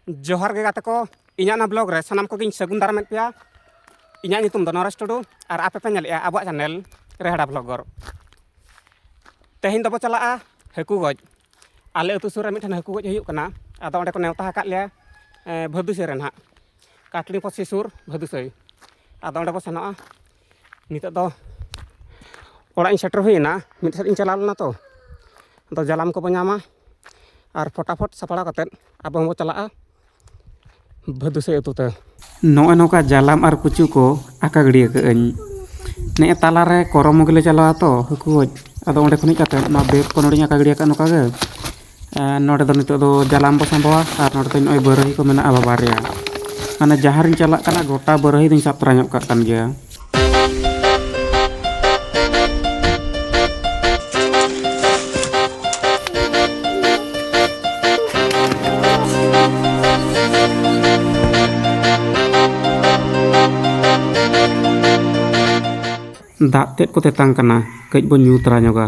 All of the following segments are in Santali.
ᱡᱚᱦᱟᱨ ᱜᱮ ᱜᱟᱛᱮ ᱠᱚ ᱤᱧᱟᱹᱜ ᱱᱟ ᱵᱞᱚᱜ ᱨᱮ ᱥᱟᱱᱟᱢ ᱠᱚᱜᱮᱧ ᱥᱟᱹᱜᱩᱱ ᱫᱟᱨᱟᱢᱮᱫ ᱯᱮᱭᱟ ᱤᱧᱟᱹᱜ ᱧᱩᱛᱩᱢ ᱫᱚ ᱱᱚᱨᱮᱥ ᱴᱩᱰᱩ ᱟᱨ ᱟᱯᱮ ᱯᱮ ᱧᱮᱞᱮᱜᱼᱟ ᱟᱵᱚᱣᱟᱜ ᱪᱮᱱᱮᱞ ᱨᱮᱦᱟᱲᱟ ᱵᱞᱚᱜᱚᱨ ᱛᱮᱦᱮᱧ ᱫᱚᱵᱚ ᱪᱟᱞᱟᱜᱼᱟ ᱦᱟᱹᱠᱩ ᱜᱚᱡ ᱟᱞᱮ ᱟᱹᱛᱩ ᱥᱩᱨ ᱨᱮ ᱢᱤᱫᱴᱮᱱ ᱦᱟᱹᱠᱩ ᱜᱚᱡ ᱦᱩᱭᱩᱜ ᱠᱟᱱᱟ ᱟᱫᱚ ᱚᱸᱰᱮ ᱠᱚ ᱱᱮᱣᱛᱟ ᱟᱠᱟᱫ ᱞᱮᱭᱟ ᱵᱷᱟᱹᱫᱩᱥᱟᱹᱭ ᱨᱮ ᱱᱟᱦᱟᱜ ᱠᱟᱴᱲᱤ ᱯᱚᱥᱤ ᱥᱩᱨ ᱵᱷᱟᱹᱫᱩᱥᱟᱹᱭ ᱟᱫᱚ ᱚᱸᱰᱮ ᱵᱚ ᱥᱮᱱᱚᱜᱼᱟ ᱱᱤᱛᱚᱜ ᱫᱚ ᱚᱲᱟᱜ ᱤᱧ ᱥᱮᱴᱮᱨ ᱦᱩᱭᱮᱱᱟ ᱢᱤᱫ ᱥᱮᱫ ᱤᱧ ᱪᱟᱞᱟᱣ ᱞᱮᱱᱟ ᱛᱚ ᱟᱫᱚ ᱡᱟᱞᱟᱢ ᱠᱚᱵᱚ ᱧᱟᱢᱟ ᱟᱨ ᱯᱷᱚᱴᱟᱯᱷᱚᱴ ᱥᱟᱯᱲᱟᱣ ᱠᱟᱛᱮᱫ ᱟᱵᱚ ᱦᱚᱸᱵᱚ ᱪᱟᱞᱟᱜᱼᱟ ᱵᱷᱟᱹᱫᱩᱥᱟᱹᱭ ᱟᱹᱛᱩ ᱛᱮ ᱱᱚᱜᱼᱚᱭ ᱱᱚᱝᱠᱟ ᱡᱟᱞᱟᱢ ᱟᱨ ᱠᱩᱪᱩ ᱠᱚ ᱟᱠᱟ ᱜᱤᱰᱤ ᱟᱠᱟᱫᱟᱹᱧ ᱱᱮᱜᱼᱮ ᱛᱟᱞᱟᱨᱮ ᱠᱚᱨᱚᱢᱚ ᱜᱮᱞᱮ ᱪᱟᱞᱟᱣᱟ ᱛᱚ ᱦᱟᱹᱠᱩ ᱜᱚᱡ ᱟᱫᱚ ᱚᱸᱰᱮ ᱠᱷᱚᱱ ᱦᱮᱡ ᱠᱟᱛᱮᱫ ᱱᱚᱣᱟ ᱵᱮᱜᱽ ᱠᱚ ᱱᱚᱸᱰᱮᱧ ᱟᱠᱟ ᱜᱤᱰᱤ ᱟᱠᱟᱫᱼᱟ ᱱᱚᱝᱠᱟ ᱜᱮ ᱱᱚᱰᱮ ᱫᱚ ᱱᱤᱛᱚᱜ ᱫᱚ ᱡᱟᱞᱟᱢ ᱵᱚ ᱥᱟᱸᱵᱟᱣᱟ ᱟᱨ ᱱᱚᱰᱮ ᱫᱚ ᱱᱚᱜᱼᱚᱭ ᱵᱟᱹᱨᱟᱹᱦᱤ ᱠᱚ ᱢᱮᱱᱟᱜᱼᱟ ᱵᱟᱵᱟ ᱨᱮᱭᱟᱜ ᱢᱟᱱᱮ ᱡᱟᱦᱟᱸ ᱨᱤᱧ ᱪᱟᱞᱟᱜ ᱠᱟᱱᱟ ᱜᱚᱴᱟ ᱵᱟᱹᱨᱟᱹᱦᱤ ᱫᱚᱧ ᱥᱟᱵ ᱛᱚᱨᱟ ᱧᱚᱜ ᱠᱟᱜ ᱠᱟᱱ ᱜᱮᱭᱟ ᱫᱟᱜ ᱛᱮᱫ ᱠᱚ ᱛᱮᱛᱟᱝ ᱠᱟᱱᱟ ᱠᱟᱹᱡ ᱵᱚᱱ ᱧᱩ ᱛᱚᱨᱟ ᱧᱚᱜᱟ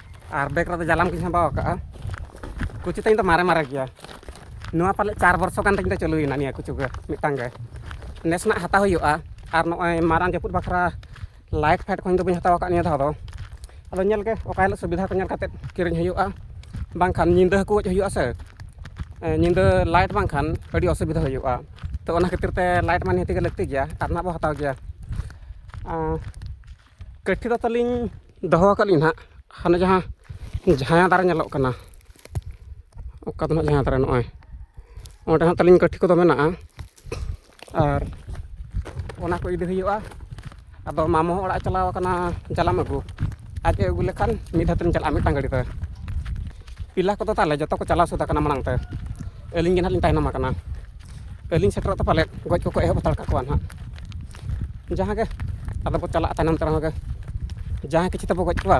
ᱟᱨ ᱵᱮᱜᱽ ᱨᱮᱫᱚ ᱡᱟᱞᱟᱢ ᱠᱚᱧ ᱥᱟᱢᱵᱟᱣ ᱟᱠᱟᱫᱼᱟ ᱠᱩᱪᱩ ᱛᱤᱧ ᱫᱚ ᱢᱟᱨᱮ ᱢᱟᱨᱮ ᱜᱮᱭᱟ ᱱᱚᱣᱟ ᱯᱟᱞᱮᱫ ᱪᱟᱨ ᱵᱚᱨᱥᱚ ᱜᱟᱱ ᱛᱤᱧ ᱫᱚ ᱪᱟᱹᱞᱩᱭᱮᱱᱟ ᱱᱤᱭᱟᱹ ᱠᱩᱪᱩ ᱜᱮ ᱢᱤᱫᱴᱟᱝ ᱜᱮ ᱱᱮᱥ ᱱᱟᱜ ᱦᱟᱛᱟᱣ ᱦᱩᱭᱩᱜᱼᱟ ᱟᱨ ᱱᱚᱜᱼᱚᱭ ᱢᱟᱨᱟᱝ ᱡᱟᱹᱯᱩᱫ ᱵᱟᱠᱷᱨᱟ ᱞᱟᱭᱤᱴ ᱯᱷᱟᱭᱤᱴ ᱠᱚᱦᱚᱸ ᱤᱧ ᱫᱚ ᱵᱟᱹᱧ ᱦᱟᱛᱟᱣ ᱟᱠᱟᱫ ᱱᱤᱭᱟᱹ ᱫᱷᱟᱣ ᱫᱚ ᱟᱫᱚ ᱧᱮᱞ ᱜᱮ ᱚᱠᱟ ᱦᱤᱞᱳᱜ ᱥᱩᱵᱤᱫᱷᱟ ᱠᱚ ᱧᱮᱞ ᱠᱟᱛᱮᱫ ᱠᱤᱨᱤᱧ ᱦᱩᱭᱩᱜᱼᱟ ᱵᱟᱝᱠᱷᱟᱱ ᱧᱤᱫᱟᱹ ᱦᱟᱹᱠᱩ ᱜᱚᱡ ᱦᱩᱭᱩᱜᱼᱟ ᱥᱮ ᱧᱤᱫᱟᱹ ᱞᱟᱭᱤᱴ ᱵᱟᱝᱠᱷᱟᱱ ᱟᱹᱰᱤ ᱚᱥᱩᱵᱤᱫᱷᱟ ᱦᱩᱭᱩᱜᱼᱟ ᱛᱚ ᱚᱱᱟ ᱠᱷᱟᱹᱛᱤᱨ ᱛᱮ ᱞᱟᱭᱤᱴ ᱢᱟ ᱱᱤᱦᱟᱹᱛ ᱜᱮ ᱞᱟᱹᱠᱛᱤ ᱜᱮᱭᱟ ᱟᱨ ᱱᱟᱜ ᱵᱚᱱ ᱦᱟᱛᱟᱣ ᱜᱮᱭᱟ ᱠᱟᱹᱴᱷᱤ ᱫᱚ ᱛᱟᱹᱞᱤᱧ ᱫᱚᱦᱚ ᱟᱠᱟᱫ ᱞᱤᱧ ᱦᱟᱸᱜ ᱦᱟᱱᱮ ᱡᱟᱦᱟᱸ ᱡᱟᱦᱟᱸ ᱫᱟᱨᱮ ᱧᱮᱞᱚᱜ ᱠᱟᱱᱟ ᱚᱠᱟ ᱫᱚ ᱦᱟᱸᱜ ᱡᱟᱦᱟᱸ ᱫᱟᱨᱮ ᱱᱚᱜᱼᱚᱭ ᱚᱸᱰᱮ ᱦᱟᱸᱜ ᱛᱟᱹᱞᱤᱧ ᱠᱟᱹᱴᱷᱤ ᱠᱚᱫᱚ ᱢᱮᱱᱟᱜᱼᱟ ᱟᱨ ᱚᱱᱟ ᱠᱚ ᱤᱫᱤ ᱦᱩᱭᱩᱜᱼᱟ ᱟᱫᱚ ᱢᱟᱢᱚ ᱦᱚᱸ ᱚᱲᱟᱜ ᱪᱟᱞᱟᱣ ᱟᱠᱟᱱᱟ ᱡᱟᱞᱟᱢ ᱟᱹᱜᱩ ᱟᱡ ᱮ ᱟᱹᱜᱩ ᱞᱮᱠᱷᱟᱱ ᱢᱤᱫ ᱫᱷᱟᱣ ᱛᱮᱞᱤᱧ ᱪᱟᱞᱟᱜᱼᱟ ᱢᱤᱫᱴᱟᱝ ᱜᱟᱹᱰᱤ ᱛᱮ ᱯᱤᱞᱟ ᱠᱚᱫᱚ ᱛᱟᱞᱮ ᱡᱚᱛᱚ ᱠᱚ ᱪᱟᱞᱟᱣ ᱥᱟᱹᱛ ᱟᱠᱟᱱᱟ ᱢᱟᱲᱟᱝ ᱛᱮ ᱟᱹᱞᱤᱧ ᱜᱮ ᱦᱟᱸᱜ ᱞᱤᱧ ᱛᱟᱭᱱᱚᱢ ᱟᱠᱟᱱᱟ ᱟᱹᱞᱤᱧ ᱥᱮᱴᱮᱨᱚᱜ ᱛᱮ ᱯᱟᱞᱮᱫ ᱜᱚᱡ ᱠᱚᱠᱚ ᱮᱦᱚᱵ ᱦᱟᱛᱟᱲ ᱠᱟᱠᱚᱣᱟ ᱦᱟᱸᱜ ᱡᱟᱦᱟᱸ ᱜᱮ ᱟᱫᱚ ᱵᱚᱱ ᱪᱟᱞᱟᱜᱼᱟ ᱛᱟᱭᱱᱚᱢ ᱛᱮ ᱨᱮᱦᱚᱸ ᱜᱮ ᱡᱟᱦᱟᱸ ᱠᱤᱪᱷᱩ ᱛᱮᱵᱚ ᱜᱚᱡ ᱠᱚᱣᱟ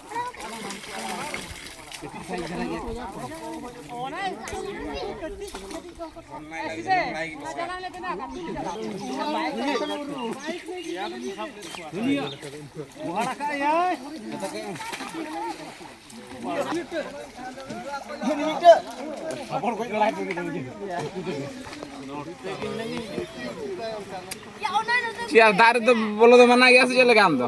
ᱪᱮᱫ ᱫᱟᱨᱮ ᱫᱚ ᱵᱚᱞᱚ ᱫᱚ ᱢᱟᱱᱟ ᱜᱮᱭᱟ ᱥᱮ ᱪᱮᱫ ᱞᱮᱠᱟ ᱟᱢ ᱫᱚ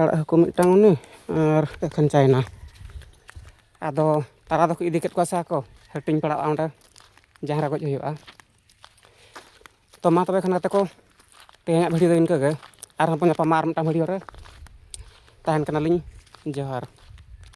ᱟᱲᱟᱜ ᱦᱟᱹᱠᱩ ᱢᱤᱫᱴᱟᱝ ᱩᱱᱤ ᱟᱨ ᱮᱠᱷᱮᱱ ᱪᱟᱭᱱᱟ ᱟᱫᱚ ᱛᱟᱨᱟ ᱫᱚᱠᱚ ᱤᱫᱤ ᱠᱮᱫ ᱠᱚᱣᱟ ᱥᱮ ᱟᱠᱚ ᱦᱟᱹᱴᱤᱧ ᱯᱟᱲᱟᱜᱼᱟ ᱚᱸᱰᱮ ᱡᱟᱦᱟᱸ ᱨᱮ ᱜᱚᱡ ᱦᱩᱭᱩᱜᱼᱟ ᱛᱚ ᱢᱟ ᱛᱚᱵᱮ ᱠᱷᱟᱱ ᱜᱟᱛᱮ ᱠᱚ ᱛᱮᱦᱮᱧᱟᱜ ᱵᱷᱤᱰᱤᱭᱳ ᱫᱚ ᱤᱱᱠᱟᱹ ᱜᱮ ᱟᱨᱦᱚᱸ ᱵᱚᱱ ᱧᱟᱯᱟᱢᱟ ᱟᱨ ᱢᱤᱫᱴᱟᱝ ᱵᱷᱤᱰᱤᱭᱳ ᱨᱮ ᱛᱟᱦᱮᱱ ᱠᱟᱱᱟᱞᱤᱧ ᱡᱚᱦᱟᱨ